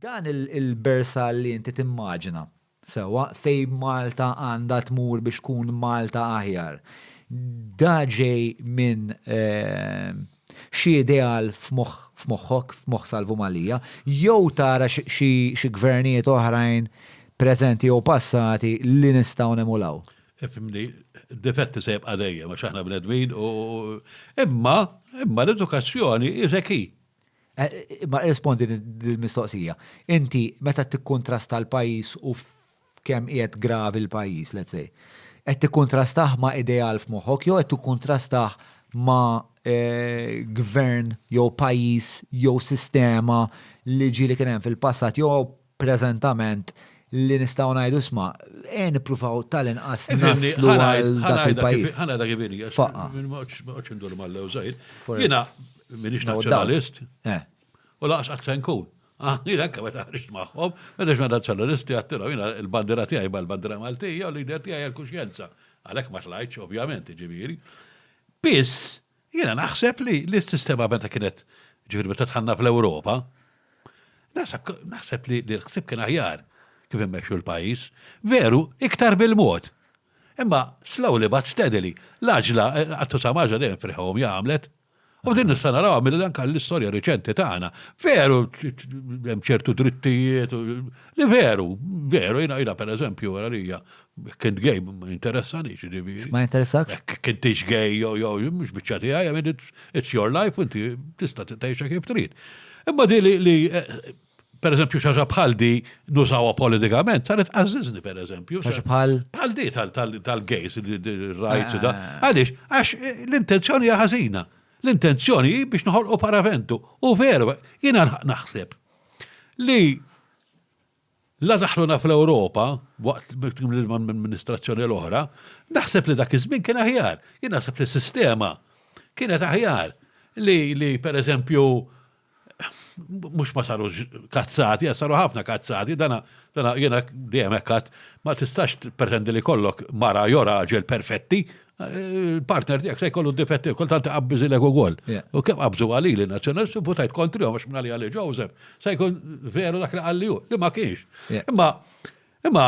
Dan il-bersall li inti timmaġina, sewwa, fejn Malta għandha tmur biex tkun Malta aħjar, da ġej minn xi ideal f'moħħok, f'moħħ Salvu Mallia, jew tara xi gvernijiet oħrajn preżenti jew passati li nistgħu nemulaw? Ifhimni, id-difetti se jibqa' dejjem għax aħna bnedmin u, imma, imma l-edukazzjoni is a key. Eh, ma rispondi l-mistoqsija. Inti, meta tikkontrasta l-pajis u kem qiegħed gravi l-pajis, let's say, qed tikkontrastaħ ma' ideal f'moħħok jew qed tikkontrastaħ ma' eh, gvern jew pajis jew sistema li ġili kien hemm fil-passat jew preżentament li nistgħu ngħidu isma' ejja nippruvaw tal-inqas naslu għal dak il-pajjiż. Ħana dak ibini, għax indur mal-lew żgħir. Jiena minix nazzjonalist. Eh. U laqas qatt se nkun. Ah, jiena anke meta ħriġt magħhom, meta xna nazzjonalisti għattilhom jiena l-bandira tiegħi ma l-bandira Maltija u l-lider tiegħi l-kuxjenza. Għalhekk ma tlajtx ovvjament, ġifieri. Biss Jiena naħseb li l-sistema meta kienet ġifieri meta tħanna fl-Ewropa, naħseb li l-ħsib kien aħjar kif immexxu l-pajjiż, veru iktar bil-mod. Imma slowly but steadily, l-aġla għattu sa maġla dejjem friħhom jagħmlet. U din nista' naraw mill anka l-istorja riċenti tagħna. Veru hemm ċertu drittijiet li veru, veru jiena jiena pereżempju għalija Kint gay, ma interessani, ġiviri. Ma interessakx? Kintix gay, jo, jo, mux bieċa ti għaj, għamil, it's your life, inti tista t-tajxa kif trid. Imma di li, li, eh, per eżempju, xaġa bħal di nużawa politikament, saret għazzizni, per eżempju. Xaġa bħal? Bħal di tal-gays, il-rajt, da. Ah. Għalix, għax eh, l-intenzjoni għazina. L-intenzjoni biex nħolqu paraventu. U veru, jina naħseb li La daħluna fl-Ewropa, waqt l-amministrazzjoni l-oħra, naħseb li dak iż-żmien kien aħjar. Jien naħseb li s-sistema kienet aħjar li, per eżempju, mhux ma sarux kazzati, għax saru ħafna kazzati, dan jiena dejjem hekk għad, ma tistax tippretendi li jkollok mara jew raġel perfetti, il-partner tiegħek se jkollu difetti kultant taqabbiżilek ukoll. U kemm qabżu għali li nazzjonalisti votajt kontri għax minn għalija li Joseph se jkun veru dak li qalli hu, li ma kienx. Imma imma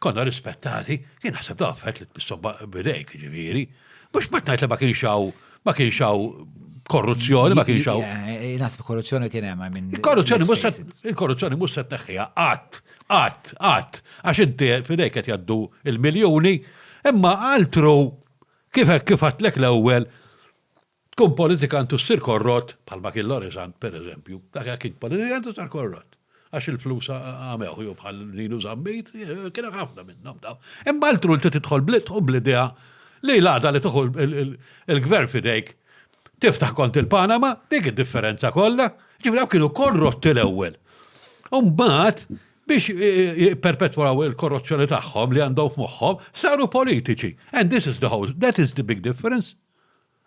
konna rispettati, jien naħseb da affett li tpissu bidejk ġifieri. Mhux ma tgħid li ma kienx hawn Ma kienx hawn korruzzjoni, ma kienx hawn. Eh, eh, Nasib korruzzjoni kien hemm minn. Il-korruzzjoni mhux il-korruzzjoni mhux se tneħħiha qatt, qatt, qatt, għax inti fidejk qed jgħaddu il-miljuni, imma altru kif kif għatlek l-ewwel tkun politikantu ssir korrott bħalma kien Lorizant pereżempju, dak kien politikantu sar korrott. għax il-flus għamewh jew bħal Ninu Zammit, kien hemm ħafna minnhom dawn. Imma l-tru li tidħol blit u bl-idea li l-għada li tuħu il-gvern fidejk tiftaħ kont il-Panama, dik id-differenza kollha, ġifieri dawk kienu korrotti l-ewwel. Umbagħad biex e, e, perpetwaw il-korruzzjoni tagħhom li għandhom f'moħħhom, saru politiċi. And this is the whole, that is the big difference.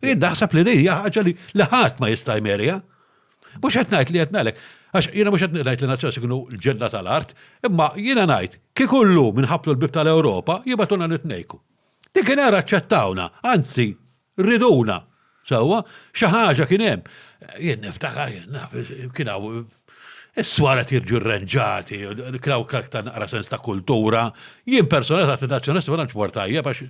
Jien naħseb li din hija ħaġa li ħadd ma jista' jmerja. Mhux qed ngħid li qed ngħalek, għax jiena mhux qed ngħid li nazzjonalisti kienu l-ġenna tal-art, imma jiena ngħid kieku llum inħabtu l-bib tal-Ewropa jibgħatuna nitnejku. Dik kien era aċċettawna, anzi riduna. Sewwa, xi ħaġa kien hemm. Jien niftakar jien naf kien hawn Is-swar qed jiġu rranġati, kraw karkta naqra sens ta' kultura. Jien personalment għad nazzjonalisti ma tantx mort tajjeb għax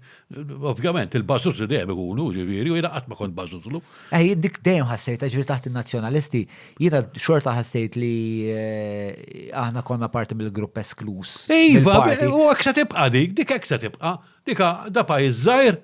ovvjament il-bażużli dejjem ikunu, ġifieri, u jiena qatt ma kont bażużlu. Eh, jien dik dejjem ħassejtha, ġifieri taħt in-nazzjonalisti, jiena xorta ħassejt li eh, aħna konna parti mill-grupp eskluż. Iva, u hekk se tibqa' dik, dik hekk se tibqa'. Dika da pajjiż żgħir,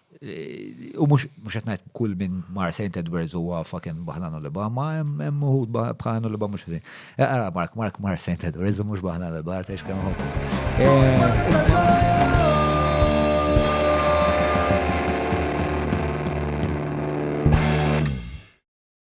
U mux qed ngħid kull minn mar St. Edwards huwa fucking baħlan u liba, ma hemm uħud baħlan u liba mhux ħażin. Eh, ara Mark, Mark mar St. Edwards u mhux baħlan u liba, għatex kemm ħobbu.